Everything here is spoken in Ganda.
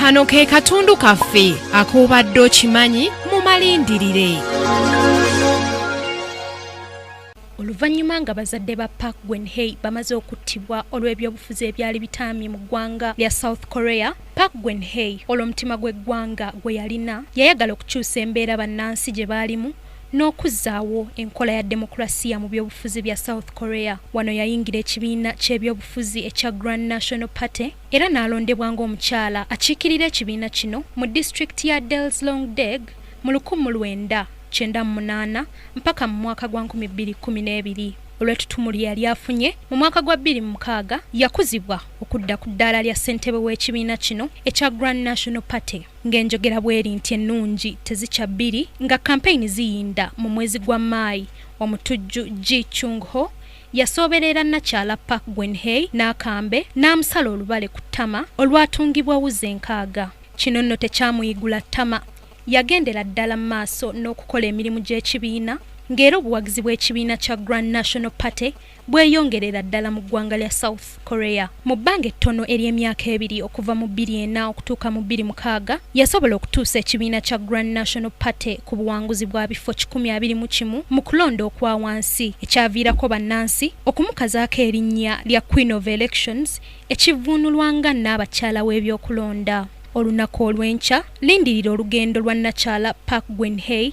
kano ke katundu kaffe akuubadde okimanyi mu malindirire oluvannyuma nga bazadde ba park gwenhei bamaze okuttibwa olw'ebyobufuzi ebyali bitaamye mu ggwanga lya south korea park gwenhei olw'omutima gw'eggwanga gwe yalina yayagala okukyusa embeera bannansi gye baalimu n'okuzzaawo enkola ya demokulasiya mu byobufuzi bya South Korea. Wano yayingira ekibiina ky'ebyobufuzi ekya Grand National Party era n'alondebwa ng'omukyala akiikirira ekibiina kino mu disitulikiti ya Daejeon-dong mu lukumu lwenda kyenda mu munaana mpaka mu mwaka gwa nkumi bbiri kkumi n'ebiri. Olw'ettutumu lye yali afunye mu mwaka gwa bbiri mu mukaaga, yakuzibwa okudda ku ddaala lya ssentebe w'ekibiina kino ekya Grand National Party. Ng'enjogera bweri nti ennungi tezikya bbiri, nga kampeyini ziyinda mu mwezi gwa Maayi, omutujju Ji Chung Ho yasoobereera nnakyala Park Gwen Hye n'akambe n'amusala olubale ku ttama olwatungibwa wuzi enkaaga. Kino nno tekyamuyigula ttama, yagendera ddala mu maaso n'okukola emirimu gy'ekibiina ng'era obuwagizi bw'ekibiina kya Grand National Party bweyongerera ddala mu ggwanga lya South Korea. Mu bbanga ettono ery'emyaka ebiri okuva mu bbiri ena okutuuka mu bbiri mukaaga yasobola okutuusa ekibiina kya Grand National Party ku buwanguzi bwa bifo kikumi abiri mu kimu mu kulonda okwa wansi ekyaviirako bannansi okumukazaako erinnya lya Queen of Elections ekivvuunulwa nga nnaabakyala w'ebyokulonda. Olunaku olw'enkya lindirira olugendo lwa nnakyala Park Geun-hye